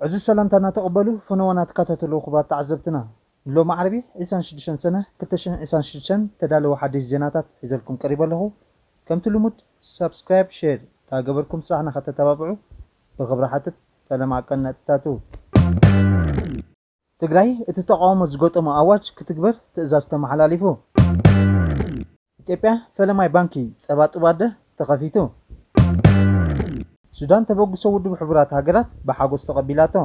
ዕዙዝ ሰላምታ እናተቐበሉ ፈነወ ናተካታተሉ ክቡራት ተዓዘብትና ንሎሚ ዓርቢ ዕስራን ሽዱሽተን ሰነ ክልተ ሽሕን ዕስራን ሽዱሽተን ዝተዳለወ ሓድሽ ዜናታት ሒዘልኩም ቀሪበ ኣለኹ ከምቲ ልሙድ ሳብስክራይብ ሼር ዳገበርኩም ስራሕና ከተተባብዑ ብኽብሪ ሓትት ፈለማ ቀነጥታቱ። ትግራይ እቲ ተቓውሞ ዝገጠሞ ኣዋጅ ክትግበር ትእዛዝ ተመሓላሊፉ። ኢትዮጵያ ፈለማይ ባንኪ ፀባ ጡብ ኣደ ተኸፊቱ። ሱዳን ተበግሶ ውድብ ሕቡራት ሃገራት ብሓጎስ ተቐቢላቶ።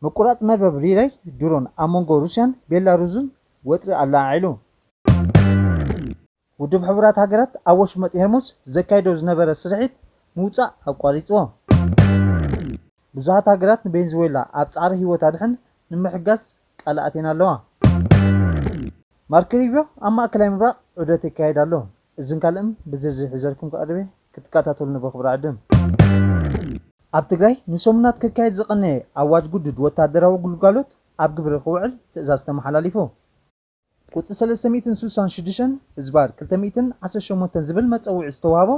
ምቁራፅ መርበብ ሪሌይ ድሮን ኣብ መንጎ ሩስያን ቤላሩዝን ወጥሪ ኣለዓዒሉ። ውድብ ሕቡራት ሃገራት ኣብ ወሽመጥ ሄርሙዝ ዘካይዶ ዝነበረ ስርሒት ምውጻእ ኣቋሪጽዎ። ብዙሃት ሃገራት ንቤንዝዌላ ኣብ ጻዕሪ ህይወት ኣድሕን ንምሕጋዝ ቃል ኣትየን ኣለዋ። ማርክ ሪብዮ ኣብ ማእከላይ ምብራቕ ዑደት የካይድ ኣሎ። እዝን ካልእን ብዝርዝር ሒዘልኩም ክቐርብ እየ፣ ክትከታተሉኒ ብኽብሪ እዕድም። ኣብ ትግራይ ንሰሙናት ክካየድ ዝቐነየ ኣዋጅ ግዱድ ወተሃደራዊ ግልጋሎት ኣብ ግብሪ ክውዕል ትእዛዝ ተመሓላሊፉ። ቁጽ ሰለስተ ሚእትን ስሳን ሽዱሽተን ህዝባር ክልተ ሚእትን ዓሰርተ ሸሞንተን ዝብል መጸውዒ ዝተዋህቦ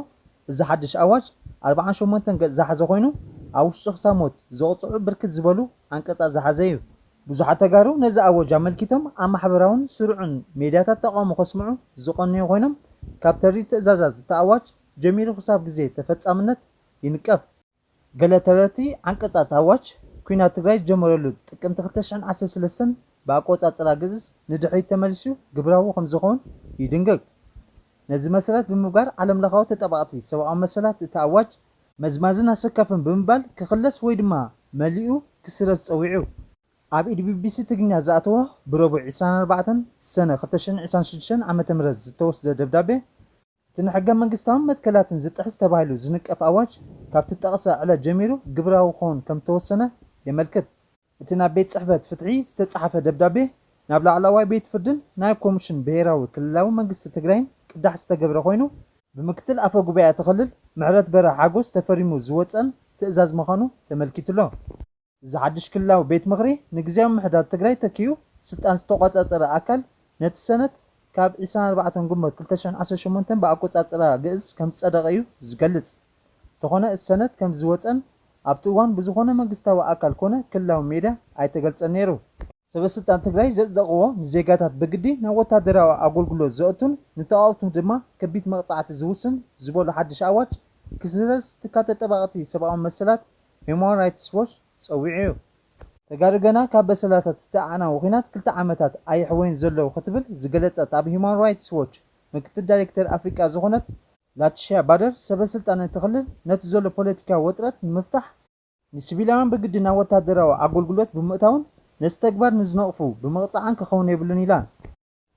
እዚ ሓድሽ ኣዋጅ ኣርብዓን ሸሞንተን ገጽ ዝሓዘ ኮይኑ ኣብ ውሽጡ ክሳብ ሞት ዘቕጽዑ ብርክት ዝበሉ ዓንቀጻት ዝሓዘ እዩ። ብዙሓት ተጋሩ ነዚ ኣወጅ ኣመልኪቶም ኣብ ማሕበራውን ስሩዕን ሜድያታት ተቓውሞ ከስምዑ ዝቐነዩ ኮይኖም ካብ ተሪር ትእዛዛት እቲ ኣዋጅ ጀሚሩ ክሳብ ግዜ ተፈጻምነት ይንቀፍ። ገለ ተረርቲ ዓንቀጻጽ ኣዋጅ ኲናት ትግራይ ዝጀመረሉ ጥቅምቲ ክልተ ሽሕን ዓሰርተ ሰለስተን ብኣቆጻጽራ ግእዝ ንድሕሪት ተመሊሱ ግብራዊ ከምዝኾን ይድንግግ። ነዚ መሰረት ብምግባር ዓለምለኻዊ ተጣባቕቲ ሰብኣዊ መሰላት እቲ ኣዋጅ መዝማዝን ኣሰካፍን ብምባል ክኽለስ ወይ ድማ መሊኡ ክስረዝ ጸዊዑ። ኣብ ኢድ ቢቢሲ ትግርኛ ዝኣተወ ብረቡዕ ዕስራን ኣርባዕተን ሰነ ክልተ ሽሕን ዕስራን ሽዱሽተን ዓመተ ምህረት ዝተወስደ ደብዳቤ፣ እቲ ንሕገ መንግስታውን መትከላትን ዝጥሕስ ተባሂሉ ዝንቀፍ ኣዋጅ ካብ ትጠቕሰ ዕለት ጀሚሩ ግብራዊ ክኸውን ከም ዝተወሰነ የመልክት። እቲ ናብ ቤት ጽሕፈት ፍትሒ ዝተጻሓፈ ደብዳቤ ናብ ላዕላዋይ ቤት ፍርድን ናብ ኮምሽን ብሄራዊ ክልላዊ መንግስቲ ትግራይን ቅዳሕ ዝተገብረ ኮይኑ፣ ብምክትል ኣፈ ጉባኤ እቲ ክልል ምሕረትበረ ሓጎስ ተፈሪሙ ዝወጸን ትእዛዝ ምዃኑ ተመልኪቱ'ሎ። እዚ ሓድሽ ክልላዊ ቤት ምኽሪ ንግዝያዊ ምምሕዳር ትግራይ ተኪኡ ስልጣን ዝተቖፃፀረ ኣካል ነቲ ሰነድ ካብ ዕስራን ኣርባዕተን ግንቦት ክልተ ሽሕን ዓሰርተ ሸሞንተን ብኣቆፃፅራ ግእዝ ከምዝፀደቐ እዩ ዝገልፅ። እንተኾነ እቲ ሰነድ ከምዝወፀን ኣብቲ እዋን ብዝኾነ መንግስታዊ ኣካል ኮነ ክልላዊ ሚድያ ኣይተገልፀን ነይሩ። ሰበ ስልጣን ትግራይ ዘፅደቕዎ ንዜጋታት ብግዲ ናብ ወታደራዊ ኣጎልጉሎት ዘእቱን ንተቓወምቱ ድማ ከቢድ መቕፃዕቲ ዝውስን ዝበሉ ሓድሽ ኣዋጅ ክስረዝ ትካል ተጠባቕቲ ሰብኣዊ መሰላት ሂዩማን ራይትስ ዎች ጸዊዑ እዩ። ተጋሩ ገና ካብ በሰላታት እቲ ኣዕናዊ ኹናት ክልተ ዓመታት ኣየሕወዩን ዘለዉ ክትብል ዝገለጸት ኣብ ሂዩማን ራይትስ ዎች ምክትል ዳይሬክተር ኣፍሪቃ ዝኾነት ላቲሽያ ባደር ሰበስልጣን እቲ ክልል ነቲ ዘሎ ፖለቲካዊ ወጥረት ንምፍታሕ፣ ንሲቪላውያን ብግዲ ናብ ወተሃደራዊ ኣጎልጉሎት ብምእታውን ነዚ ተግባር ንዝነቕፉ ብምቕጻዕን ክኸውን የብሉን ኢላ።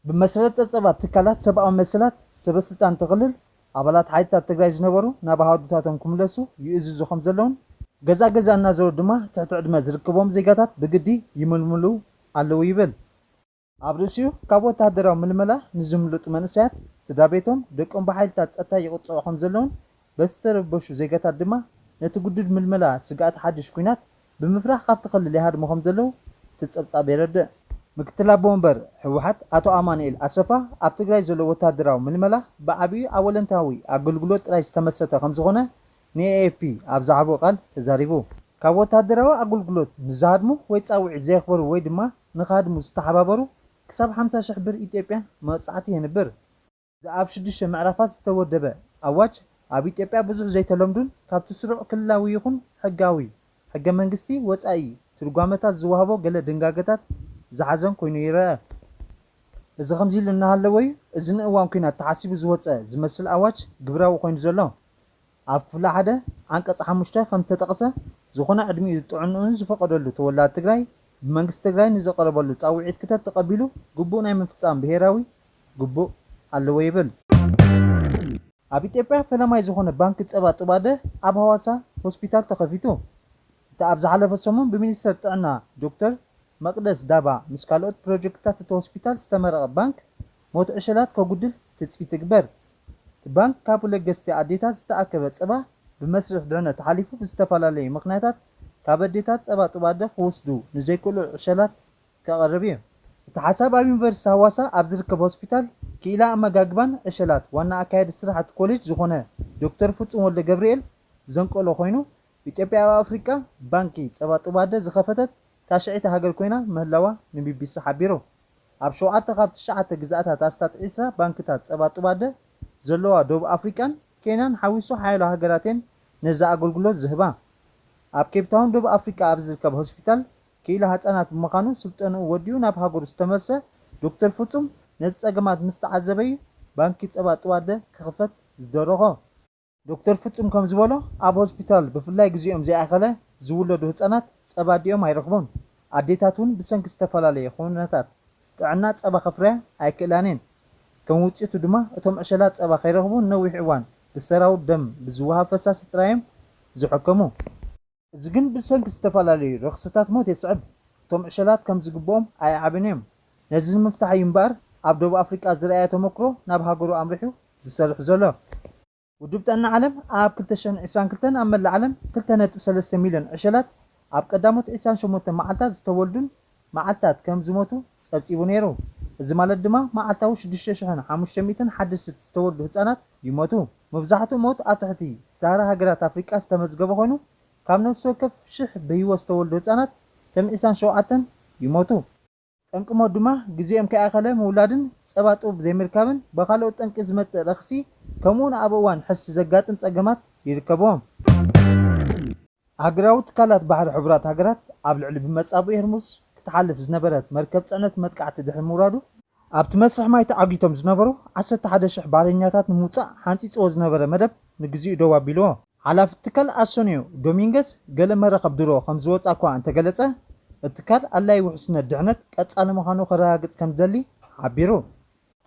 ብመሰረት ፀብፀባት ትካላት ሰብኣዊ መሰላት፣ ሰበስልጣን እቲ ክልል ኣባላት ሓይልታት ትግራይ ዝነበሩ ናብ ኣሃዱታቶም ክምለሱ ይእዝዙ ከምዘለዉን ገዛ ገዛ እናዞሩ ድማ ትሕቲ ዕድመ ዝርክቦም ዜጋታት ብግዲ ይምልምሉ ኣለዉ ይብል። ኣብ ርእሲኡ ካብ ወተሃደራዊ ምልመላ ንዝምልጡ መንእሰያት ስድራቤቶም፣ ደቆም ብሓይልታት ፀጥታ ይቕፅዑ ከምዘለዉን በቲ ዝተረበሹ ዜጋታት ድማ ነቲ ግዱድ ምልመላ ስግኣት ሓድሽ ኲናት ብምፍራህ ካብቲ ክልል ይሃድሙ ከምዘለዉ እቲ ፀብፃብ የረድእ። ምክትል ኣቦ ወንበር ህወሓት ኣቶ ኣማኑኤል ኣሰፋ ኣብ ትግራይ ዘሎ ወታደራዊ ምልመላ ብዓብዩ ኣብ ወለንታዊ ኣገልግሎት ጥራይ ዝተመስረተ ከምዝኾነ ንኤኤፍፒ ኣብ ዝሃቦ ቃል ተዛሪቡ። ካብ ወታደራዊ ኣገልግሎት ንዝሃድሙ ወይ ፃውዒት ዘየኽበሩ ወይ ድማ ንክሃድሙ ዝተሓባበሩ ክሳብ ሓምሳ ሽሕ ብር ኢትዮጵያ መቕፃዕቲ የንብር። እዚ ኣብ ሽዱሽተ ምዕራፋት ዝተወደበ ኣዋጅ ኣብ ኢትዮጵያ ብዙሕ ዘይተለምዱን ካብቲ ስሩዕ ክልላዊ ይኹን ሕጋዊ፣ ሕገ መንግስቲ፣ ወጻኢ ትርጓመታት ዝወሃቦ ገለ ድንጋገታት ዝሓዘን ኮይኑ ይረኣ። እዚ ከምዚ ኢሉ እናሃለወ'ዩ እዚ ንእዋን ኲናት ተሓሲቡ ዝወጸ ዝመስል ኣዋጅ ግብራዊ ኮይኑ ዘሎ። ኣብ ክፍሊ ሓደ ዓንቀፅ ሓሙሽተ ከምዝተጠቕሰ ዝኾነ ዕድሚኡ ጥዕንኡን ዝፈቐደሉ ተወላዲ ትግራይ ብመንግስቲ ትግራይ ንዝቐረበሉ ፃውዒት ክተት ተቐቢሉ ግቡእ ናይ ምፍፃም ብሄራዊ ግቡእ ኣለዎ ይብል። ኣብ ኢትዮጵያ ፈላማይ ዝኾነ ባንኪ ፀባ ጥባደ ኣብ ሃዋሳ ሆስፒታል ተኸፊቱ። እቲ ኣብ ዝሓለፈ ሰሙን ብሚኒስትር ጥዕና ዶክተር መቅደስ ዳባ ምስ ካልኦት ፕሮጀክትታት እቲ ሆስፒታል ዝተመረቐ ባንክ ሞት ዕሸላት ከጉድል ትፅቢት ይግበር። እቲ ባንክ ካብ ለገስቲ ኣዴታት ዝተኣከበ ፀባ ብመስርሕ ድሕነት ተሓሊፉ ብዝተፈላለዩ ምኽንያታት ካብ ኣዴታት ፀባ ጡብ ኣደ ክወስዱ ንዘይክእሉ ዕሸላት ከቕርብ እዩ። እቲ ሓሳብ ኣብ ዩኒቨርሲቲ ሃዋሳ ኣብ ዝርከብ ሆስፒታል ክኢላ ኣመጋግባን ዕሸላት ዋና ኣካያዲ ስራሕ እቲ ኮሌጅ ዝኾነ ዶክተር ፍፁም ወልደገብርኤል ዘንቀሎ ኮይኑ ኢትዮጵያ ኣብ ኣፍሪቃ ባንኪ ፀባ ጡብ ኣደ ዝኸፈተት ታሽዐይቲ ሃገር ኮይና ምህላዋ ንቢቢሲ ሓቢሩ። ኣብ ሸውዓተ ካብ ትሽዓተ ግዝኣታት ኣስታት ዕስራ ባንክታት ጸባ ጡባደ ዘለዋ ደቡብ ኣፍሪቃን ኬንያን ሓዊሱ ሓያሎ ሃገራት'የን ነዚ ኣገልግሎት ዝህባ። ኣብ ኬፕታውን ደቡብ ኣፍሪቃ ኣብ ዝርከብ ሆስፒታል ክኢላ ህጻናት ብምዃኑ ስልጠንኡ ወዲኡ ናብ ሃገሩ ዝተመልሰ ዶክተር ፍጹም ነዚ ጸገማት ምስ ተዓዘበ'ዩ ባንኪ ጸባ ጡባደ ክኽፈት ዝደረኾ። ዶክተር ፍጹም ከም ዝበሎ፣ ኣብ ሆስፒታል ብፍላይ ግዜኦም ዘይኣኸለ ዝውለዱ ህጻናት ጸባ ኣዲኦም ኣይረኽቡን። ኣዴታት እውን ብሰንኪ ዝተፈላለየ ኹነታት ጥዕና ጸባ ከፍርያ ኣይክእላን እየን። ከም ውጽኢቱ ድማ እቶም ዕሸላት ጸባ ከይረኽቡ ንነዊሕ እዋን ብሰራው ደም ብዝወሃብ ፈሳሲ ጥራይ እዮም ዝሕከሙ። እዚ ግን ብሰንኪ ዝተፈላለዩ ረኽሲታት ሞት የስዕብ። እቶም ዕሸላት ከም ዝግብኦም ኣይዓብን እዮም። ነዚ ንምፍታሕ እዩ እምበኣር ኣብ ደቡብ ኣፍሪቃ ዝርኣየ ተመኩሮ ናብ ሃገሩ ኣምሪሑ ዝሰርሕ ዘሎ። ውድብ ጥዕና ዓለም ኣብ ክልተ ሽሕን ዕስራን ክልተን ኣብ መላእ ዓለም ክልተ ነጥቢ ሰለስተ ሚልዮን ዕሸላት፣ ኣብ ቀዳሞት ዕስራን ሸሞንተን መዓልታት ዝተወልዱን መዓልታት ከም ዝሞቱ ጸብጺቡ ነይሩ። እዚ ማለት ድማ መዓልታዊ ሽዱሽተ ሽሕን ሓሙሽተ ሚእትን ሓደስት ዝተወልዱ ህጻናት ይሞቱ። መብዛሕትኡ ሞት ኣብ ትሕቲ ሰሃራ ሃገራት ኣፍሪቃ ዝተመዝገበ ኮይኑ፣ ካብ ነፍሲ ወከፍ ሽሕ ብህይወት ዝተወልዱ ህጻናት ከም ዒስራን ሸውዓተን ይሞቱ። ጠንቂ ሞት ድማ ግዜኦም ከይኣኸለ ምውላድን ጸባ ጥቡብ ዘይምርካብን ብኻልኦት ጠንቂ ዝመጽእ ረኽሲ ከምኡ'ውን ኣብ እዋን ሕርሲ ዘጋጥም ጸገማት ይርከብዎም። ሃገራዊ ትካላት ባሕሪ ሕቡራት ሃገራት ኣብ ልዕሊ ብመጻብቦ ሄርሙዝ ክትሓልፍ ዝነበረት መርከብ ጽዕነት መጥቃዕቲ ድሕሪ ምውራዱ፣ ኣብቲ መስርሕ ማይ ተዓጊቶም ዝነበሩ ዓሰርተ ሓደ ሽሕ ባሕረኛታት ንምውጻእ ሓንጺጽዎ ዝነበረ መደብ ንግዚኡ ደው ኣቢልዎ። ሓላፊ እቲ ትካል ኣርሰንዮ ዶሚንገዝ፣ ገለ መራኽብ ድሮ ከም ዝወጽኣ'ኳ እንተገለጸ፣ እቲ ትካል ኣድላዪ ውሕስነት ድሕነት ቀጻሊ ምዃኑ ከረጋግጽ ከም ዝደሊ ሓቢሩ።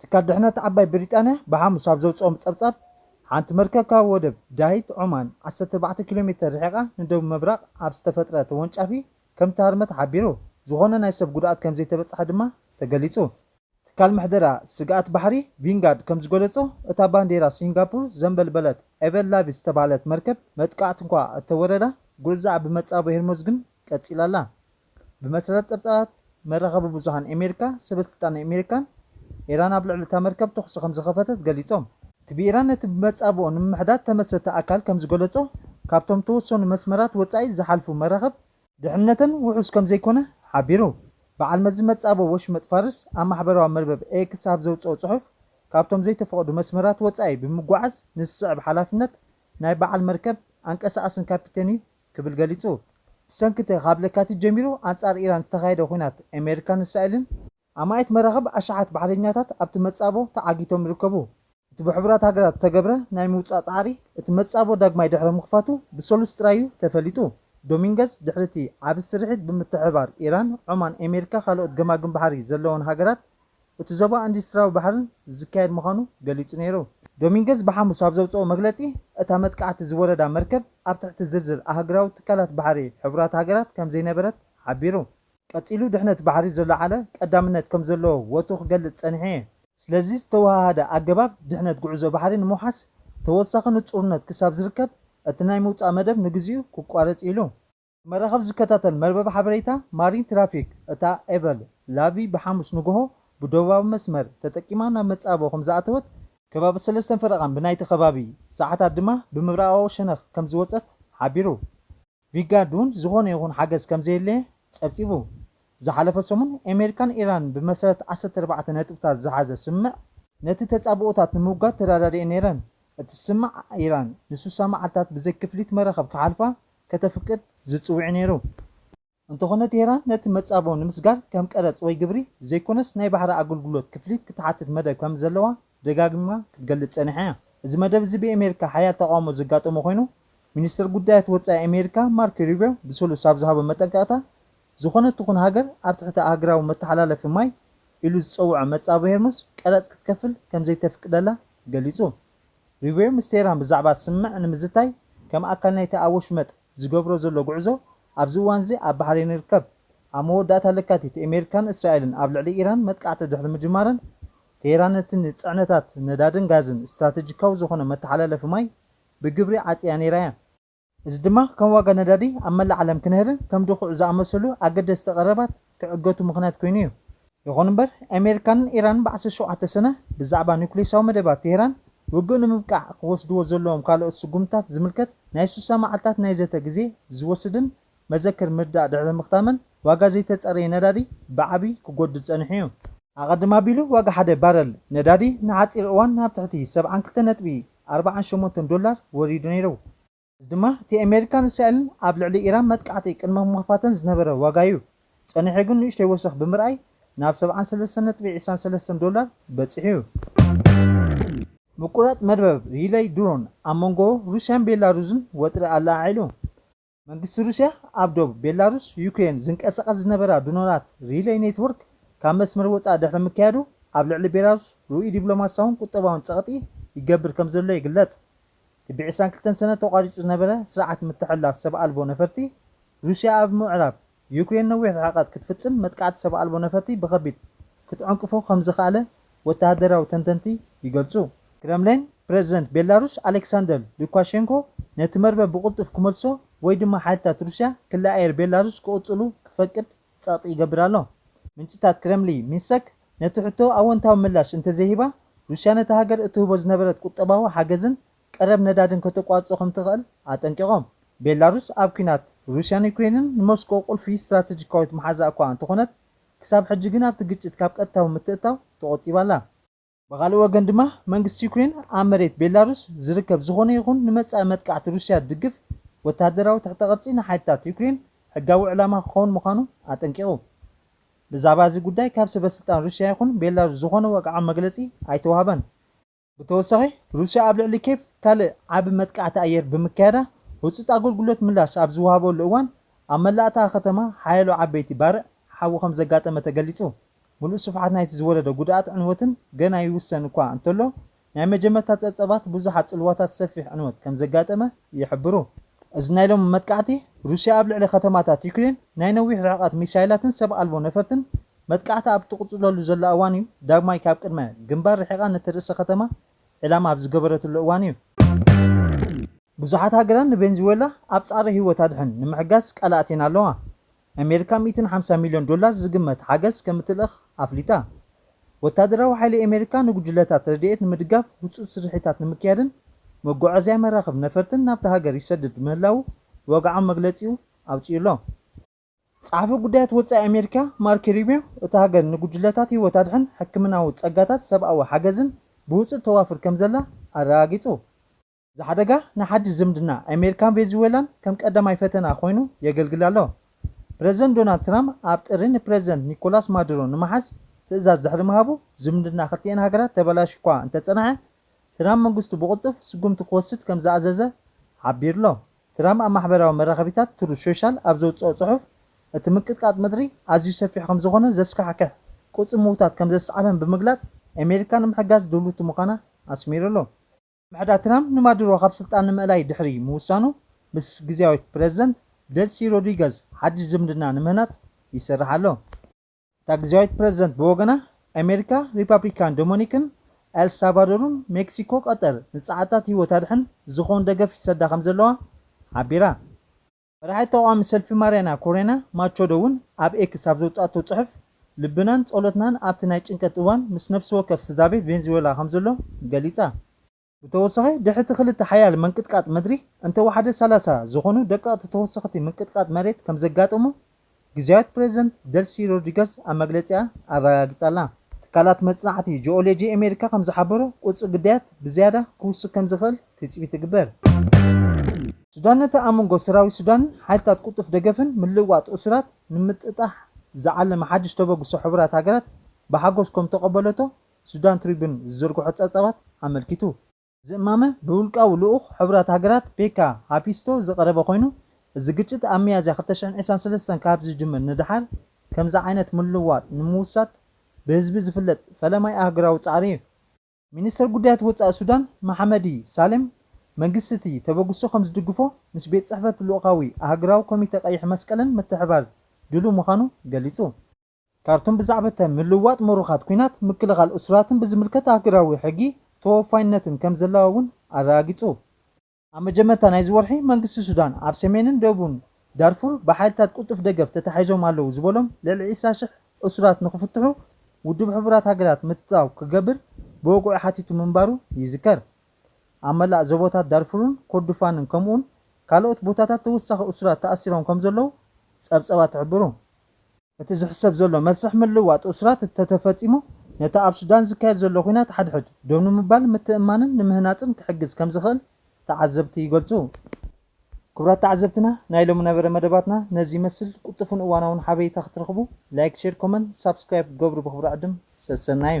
ትካል ድሕነት ዓባይ ብሪጣንያ ብሓሙስ ኣብ ዘውጽኦም ጸብጻብ፣ ሓንቲ መርከብ ካብ ወደብ ዳሂት ዖማን ዓሰርተ ኣርባዕተ ኪሎ ሜተር ርሒቓ ንደቡብ ምብራቕ ኣብ ዝተፈጥረ ተወንጫፊ ከም እተሃርመት ሓቢሩ። ዝኾነ ናይ ሰብ ጉድኣት ከም ዘይተበጽሐ ድማ ተገሊጹ። ትካል ምሕደራ ስግኣት ባሕሪ ቪንጋርድ ከም ዝገለጾ፣ እታ ባንዴራ ሲንጋፑር ዘንበልበለት ኤቨን ላቪ ዝተባህለት መርከብ መጥቃዕቲ'ኳ እተወረዳ፣ ጉዕዞኣ ብመጻብቦ ሄርሞዝ ግን ቀጺላ'ላ። ብመሰረት ጸብጻባት መራኸቢ ብዙሃን ኣሜሪካ፣ ሰበስልጣን ኣሜሪካን ኢራን ኣብ ልዕሊ እታ መርከብ ተዅሲ ከም ዝኸፈተት ገሊጾም። እቲ ብኢራን ነቲ ብመጻብቦ ንምምሕዳር እተመስረተ ኣካል ከም ዝገለጾ፣ ካብቶም እተወሰኑ መስመራት ወጻኢ ዝሓልፉ መራኽብ፣ ድሕነተን ውሑስ ከም ዘይኰነ ሓቢሩ። በዓል መዚ መጻብቦ ወሽመጥ ፋርስ ኣብ ማሕበራዊ መርበብ ኤክስ ኣብ ዘውጽኦ ጽሑፍ፣ ካብቶም ዘይተፈቕዱ መስመራት ወጻኢ ብምጕዓዝ ንዝስዕብ ሓላፍነት ናይ በዓል መርከብ፣ ኣንቀሳቓስን ካፒቴን'ዩ ክብል ገሊጹ። ብሰንኪ እቲ ካብ ለካቲት ጀሚሩ ኣንጻር ኢራን ዝተኻየደ ኵናት ኣሜሪካን እስራኤልን፣ ኣማኢት መራኽብ ኣሽሓት ባሕረኛታት ኣብቲ መጻቦ ተዓጊቶም ይርከቡ። እቲ ብሕቡራት ሃገራት ዝተገብረ ናይ ምውጻእ ጻዕሪ፣ እቲ መጻቦ ዳግማይ ድሕሪ ምኽፋቱ ብሰሉስ ጥራይ'ዩ ተፈሊጡ። ዶሚንገዝ፣ ድሕሪ እቲ ዓቢ ስርሒት ብምትሕብባር ኢራን፣ ዖማን፣ ኣሜሪካ ካልኦት ገማግም ባሕሪ ዘለወን ሃገራት እቲ ዞባ ኢንዱስትሪያዊ ባሕርን ዝካየድ ምዃኑ ገሊጹ ነይሩ። ዶሚንገዝ ብሓሙስ ኣብ ዘውጽኦ መግለጺ፣ እታ መጥቃዕቲ ዝወረዳ መርከብ ኣብ ትሕቲ ዝርዝር ኣህግራዊ ትካላት ባሕሪ ሕቡራት ሃገራት ከም ዘይነበረት ሓቢሩ። ቀጺሉ ድሕነት ባሕሪ ዘለዓለ ቀዳምነት ከም ዘለዎ ወትሩ ክገልጽ ጸኒሐ እየ። ስለዚ ዝተወሃሃደ ኣገባብ ድሕነት ጉዕዞ ባሕሪ ንምውሓስ ተወሳኺ ንጹርነት ክሳብ ዝርከብ እቲ ናይ ምውጻእ መደብ ንግዚኡ ክቋረጽ እዩ ኢሉ። መራኸብ ዝከታተል መርበብ ሓበሬታ ማሪን ትራፊክ እታ ኤቨል ላቪ ብሓሙስ ንጉሆ ብደቡባዊ መስመር ተጠቂማ ናብ መጻብቦ ከምዝኣተወት፣ ከባቢ ሰለስተን ፈረቓን ብናይቲ ከባቢ ሰዓታት ድማ ብምብራቓዊ ሸነኽ ከምዝወጸት ሓቢሩ። ቪጋርድ እውን ዝኾነ ይኹን ሓገዝ ከምዘየለየ ጸብጺቡ። ዝሓለፈ ሰሙን ኤሜሪካን ኢራንን ብመሰረት ዓሰርተ ኣርባዕተ ነጥብታት ዝሓዘ ስምምዕ፣ ነቲ ተጻብኦታት ንምውጋድ ተረዳዲኤን ነይረን፣ እቲ ስምምዕ ኢራን ንሱሳ መዓልታት ብዘይ ክፍሊት መራኸብ ክሓልፋ ከተፍቅድ ዝጽውዕ ነይሩ። እንተኾነ ቴህራን ነቲ መጻብቦ ንምስጋር ከም ቀረጽ ወይ ግብሪ ዘይኮነስ ናይ ባሕሪ ኣገልግሎት ክፍሊት ክትሓትት መደብ ከምዘለዋ ደጋጊማ ክትገልጽ ጸኒሓ እያ። እዚ መደብ እዚ ብኤሜሪካ ሓያል ተቓውሞ ዘጋጠሞ ኮይኑ፣ ሚኒስተር ጉዳያት ወጻኢ ኤሜሪካ ማርክ ሩብዮ ብሰሉስ ኣብ ዝሃቦ መጠንቀቕታ ዝኾነት ትኹን ሃገር ኣብ ትሕቲ ኣህግራዊ መተሓላለፊ ማይ ኢሉ ዝጸውዖ መጻብቦ ሄርሙዝ ቀረጽ ክትከፍል ከምዘይተፍቅደላ ገሊጹ። ሪቤዮ ምስ ቴህራን ብዛዕባ ስምምዕ ንምዝታይ ከም ኣካል ናይቲ ኣብ ወሽመጥ ዝገብሮ ዘሎ ጉዕዞ፣ ኣብዚ እዋን'ዚ ኣብ ባሕሬን ይርከብ። ኣብ መወዳእታ ለካቲት ኤሜሪካን እስራኤልን ኣብ ልዕሊ ኢራን መጥቃዕቲ ድሕሪ ምጅማረን፣ ቴህራን ነቲ ንጽዕነታት ነዳድን ጋዝን ስትራተጂካዊ ዝኾነ መተሓላለፊ ማይ ብግብሪ ዓጽያ ነይራ እያ። እዚ ድማ ከም ዋጋ ነዳዲ ኣብ መላእ ዓለም ክነህርን ከም ድኹዒ ዝኣመሰሉ ኣገደስቲ ቀረባት ክዕገቱ ምኽንያት ኮይኑ እዩ። ይኹን እምበር ኣሜሪካን ኢራንን ብ ዓሰርተ ሸውዓተ ሰነ ብዛዕባ ኑክሌሳዊ መደባት ቴህራን ውግእ ንምብቃዕ ክወስድዎ ዘለዎም ካልኦት ስጉምትታት ዝምልከት ናይ ስሳ መዓልታት ናይ ዘተ ግዜ ዝወስድን መዘክር ምርዳእ ድሕሪ ምኽታመን ዋጋ ዘይተጸረየ ነዳዲ ብዓቢ ክጎድል ጸኒሑ እዩ። ኣቐድም ኣቢሉ ዋጋ ሓደ ባረል ነዳዲ ንሓጺር እዋን ናብ ትሕቲ ሰብዓን ክልተ ነጥቢ ኣርባዓን ሸሞንተን ዶላር ወሪዱ ነይሩ። እዚ ድማ እቲ ኣሜሪካን እስራኤልን ኣብ ልዕሊ ኢራን መጥቃዕቲ ቅድመ ምኽፋተን ዝነበረ ዋጋ እዩ። ጸኒሑ ግን ንእሽተይ ወሰኽ ብምርኣይ ናብ ሰብዓን ሰለስተን ነጥቢ ዕስራን ሰለስተን ዶላር በጺሑ እዩ። ምቁራጽ መርበብ ሪለይ ድሮን ኣብ መንጎ ሩስያን ቤላሩዝን ወጥሪ ኣለዓዒሉ። መንግስቲ ሩስያ ኣብ ዶብ ቤላሩስ ዩክሬን ዝንቀሳቐስ ዝነበራ ድሮናት ሪለይ ኔትዎርክ ካብ መስመር ወፃእ ድሕሪ ምክያዱ ኣብ ልዕሊ ቤላሩስ ርኡይ ዲፕሎማሲያውን ቁጠባውን ፀቕጢ ይገብር ከምዘሎ ይግለፅ። ክቢ ዕስራን ክልተን ሰነ ተቋሪፁ ዝነበረ ስርዓት ምትሕልላፍ ሰብ ኣልቦ ነፈርቲ ሩስያ ኣብ ምዕራብ ዩክሬን ነዊሕ ርሕቀት ክትፍጽም መጥቃዕቲ ሰብ ኣልቦ ነፈርቲ ብኸቢድ ክትዕንቅፎ ከምዝኸኣለ ወተሃደራዊ ተንተንቲ ይገልጹ። ክረምሊን፣ ፕረዚደንት ቤላሩስ ኣሌክሳንደር ሉካሼንኮ ነቲ መርበብ ብቕልጡፍ ክመልሶ ወይ ድማ ሓይልታት ሩስያ ክሊ ኣየር ቤላሩስ ክቕጽሉ ክፈቅድ ጸቕጢ ይገብር ኣሎ። ምንጭታት ክረምሊ ሚንሰክ ነቲ ሕቶ ኣወንታዊ ምላሽ እንተዘይሂባ፣ ሩስያ ነታ ሃገር እትህቦ ዝነበረት ቁጠባዊ ሓገዝን ቀረብ ነዳድን ከተቋርጾ ከም ትኽእል ኣጠንቂቖም። ቤላሩስ ኣብ ኲናት ሩስያን ዩክሬንን ንሞስኮ ቁልፊ ስትራተጂካዊት መሓዛኣ እኳ እንተኾነት፣ ክሳብ ሕጂ ግን ኣብቲ ግጭት ካብ ቀጥታዊ ምትእትታው ተቖጢባ ኣላ። ብኻልእ ወገን ድማ መንግስቲ ዩክሬን ኣብ መሬት ቤላሩስ ዝርከብ ዝኾነ ይኹን ንመጻኢ መጥቃዕቲ ሩስያ ዝድግፍ ወተሃደራዊ ትሕተ ቅርጺ ንሓይልታት ዩክሬን ሕጋዊ ዕላማ ክኸውን ምዃኑ ኣጠንቂቑ። ብዛዕባ እዚ ጉዳይ ካብ ሰበስልጣን ሩስያ ይኹን ቤላሩስ ዝኾነ ወግዓዊ መግለጺ ኣይተዋህበን። ብተወሳኺ ሩስያ ኣብ ልዕሊ ኬቭ ካልእ ዓቢ መጥቃዕቲ ኣየር ብምክያዳ ህጹጽ ኣገልግሎት ምላሽ ኣብ ዝወሃበሉ እዋን ኣብ መላእ እታ ከተማ ሓያሎ ዓበይቲ ባርዕ ሓዊ ከም ዘጋጠመ ተገሊጹ። ምሉእ ስፍሓት ናይቲ ዝወረደ ጉድኣትን ዕንወትን ገና ይውሰን እኳ እንተሎ ናይ መጀመርታ ጸብጸባት ብዙሓት ጽልዋታት ሰፊሕ ዕንወት ከም ዘጋጠመ ይሕብሩ። እዚ ናይ ሎሚ መጥቃዕቲ ሩስያ ኣብ ልዕሊ ከተማታት ዩክሬን ናይ ነዊሕ ርሕቐት ሚሳይላትን ሰብ ኣልቦ ነፈርትን መጥቃዕታ ኣብ እትቕጽለሉ ዘላ እዋን'ዩ ዳግማይ ካብ ቅድመ ግንባር ርሒቓ ነቲ ርእሰ ከተማ ዒላማ ኣብ ዝገበረትሉ እዋን'ዩ። ብዙሓት ሃገራት ንቬንዝዌላ ኣብ ጻዕሪ ህይወት ኣድሕን ንምሕጋዝ ቃል ኣእትየን ኣለዋ። ኣሜሪካ ሚእትን ሓምሳን ሚልዮን ዶላር ዝግመት ሓገዝ ከም እትልእኽ ኣፍሊጣ። ወተሃደራዊ ሓይሊ ኣሜሪካ ንጉጅለታት ረድኤት ንምድጋፍ ህጹጽ ስርሒታት ንምክያድን መጓዓዝያ መራኽብ ነፈርትን ናብታ ሃገር ይሰድድ ምህላዉ ብወግዓዊ መግለጺኡ ኣውጺኡ'ሎ። ጸሓፊ ጉዳያት ወጻኢ ኣሜሪካ ማርኪ ሩቢዮ፣ እታ ሃገር ንጉጅለታት ህይወት ኣድሕን ሕክምናዊ ጸጋታት ሰብኣዊ ሓገዝን ብውጹእ ተዋፍር ከምዘላ ኣረጋጊጹ። እዚ ሓደጋ ንሓድሽ ዝምድና ኣሜሪካን ቬንዙዌላን ከም ቀዳማይ ፈተና ኮይኑ የገልግል ኣሎ። ፕረዚደንት ዶናልድ ትራምፕ ኣብ ጥሪ ንፕረዚደንት ኒኮላስ ማዱሮ ንምሓዝ ትእዛዝ ድሕሪ ምሃቡ ዝምድና ክልቲኤን ሃገራት ተበላሽዩ'ኳ እንተጸንሐ፣ ትራምፕ መንግስቱ ብቕልጡፍ ስጉምቲ ክወስድ ከምዝኣዘዘ ሓቢሩ'ሎ። ትራም ኣብ ማሕበራዊ መራኸቢታት ትሩዝ ሾሻል ኣብ ዘውጽኦ ጽሑፍ፣ እቲ ምንቅጥቃጥ ምድሪ ኣዝዩ ሰፊሕ ከም ዝኾነን ዘስካሕክሕ ቁጽሪ ምውታት ከም ዘስዓበን ብምግላጽ፣ ኣሜሪካ ንምሕጋዝ ድልውቲ ምዃና ኣስሚሩ ኣሎ። ምሕዳር ትራም ንማዱሮ ካብ ስልጣን ንምእላይ ድሕሪ ምውሳኑ፣ ምስ ግዝያዊት ፕረዚደንት ደልሲ ሮድሪገዝ ሓድሽ ዝምድና ንምህናጽ ይሰርሕ ኣሎ። እታ ግዝያዊት ፕረዚደንት ብወገና፣ ኣሜሪካ፣ ሪፓብሊካን ዶሞኒክን፣ ኤል ሳልቫዶርን ሜክሲኮ ቀጠር ንጸዓትታት ህይወት ኣድሕን ዝኸውን ደገፍ ይሰዳ ከምዘለዋ ሓቢራ። መራሒት ተቓዋሚ ሰልፊ ማርያና ኮሬና ማቾዶ እውን ኣብ ኤክስ ኣብ ዘውጽኣቶ ጽሑፍ፣ ልብናን ጸሎትናን ኣብቲ ናይ ጭንቀት እዋን ምስ ነፍሲ ወከፍ ስድራቤት ቬንዝዌላ ከምዘሎ ገሊጻ። ብተወሳኺ ድሕሪቲ ክልተ ሓያል መንቅጥቃጥ ምድሪ እንተወሓደ ሰላሳ ዝኾኑ ደቀቕቲ ተወሰኽቲ ምንቅጥቃጥ መሬት ከምዘጋጠሙ ግዝያዊት ፕረዚደንት ደልሲ ሮድሪገዝ ኣብ መግለጺኣ ኣረጋጊጻ'ላ። ትካላት መጽናዕቲ ጂኦሎጂ ኣሜሪካ ከምዝሓበሮ ቁጽሪ ግዳያት ብዝያዳ ክውስኽ ከምዝኽእል ትጽቢት ይግበር። ሱዳን ነቲ ኣብ መንጎ ሰራዊት ሱዳንን ሓይልታት ቅልጡፍ ደገፍን ምልውዋጥ እሱራት ንምጥጣሕ ዝዓለመ ሓድሽ ተበግሶ ሕቡራት ሃገራት ብሓጎስ ከምተቐበለቶ ሱዳን ትሪቡን ዝዘርግሖ ጸብጻባት ኣመልኪቱ። እዚ እማመ ብውልቃዊ ልኡኽ ሕቡራት ሃገራት ፔካ ሃፒስቶ ዝቐረበ ኮይኑ፣ እዚ ግጭት ኣብ ሚያዝያ ክልተ ሽሕን ዒስራን ሰለስተን ካብ ዝጅምር ንደሓር ከምዚ ዓይነት ምልውዋጥ ንምውሳድ ብህዝቢ ዝፍለጥ ፈለማይ ኣህጉራዊ ጻዕሪ እዩ። ሚኒስተር ጉዳያት ወጻኢ ሱዳን መሓመዲ ሳሌም፣ መንግስቲ'ቲ ተበግሶ ከም ዝድግፎ ምስ ቤት ጽሕፈት ልኡኻዊ ኣህጉራዊ ኮሚተ ቀይሕ መስቀልን ምትሕብባር ድሉው ምዃኑ ገሊጹ። ካርቱም ብዛዕብተ ምልውዋጥ ምሩኻት ኲናት፣ ምክልኻል እሱራትን ብዝምልከት ኣህግራዊ ሕጊ ተወፋይነትን ከም ዘለዋ እውን ኣረጋጊጹ። ኣብ መጀመርታ ናይዚ ወርሒ፣ መንግስቲ ሱዳን ኣብ ሰሜንን ደቡብን ዳርፉር ብሓይልታት ቅልጡፍ ደገፍ ተታሒዞም ኣለዉ ዝበሎም ልዕሊ ዕስራ ሽሕ እሱራት ንኽፍትሑ ውድብ ሕቡራት ሃገራት ምትእትታው ክገብር ብወግዒ ሓቲቱ ምንባሩ ይዝከር። ኣብ መላእ ዞቦታት ዳርፉርን ኮርዱፋንን ከምኡውን ካልኦት ቦታታት ተወሳኺ እሱራት ተኣሲሮም ከም ዘለዉ ጸብጸባት ይሕብሩ። እቲ ዝሕሰብ ዘሎ መስርሕ ምልውዋጥ እሱራት እተተፈጺሙ፣ ነቲ ኣብ ሱዳን ዝካየድ ዘሎ ኲናት ሓድሕድ ደው ንምባል ምትእምማንን ንምህናጽን ክሕግዝ ከም ዝኽእል ተዓዘብቲ ይገልጹ። ክቡራት ተዓዘብትና ናይ ሎሚ ነበረ መደባትና ነዚ ይመስል ቁጡፉን እዋናውን ሓበሬታ ክትረኽቡ ላይክ ሼር ኮመን ሳብስክራይብ ክትገብሩ ብኽብሪ ዕድም ሰሰናዩ።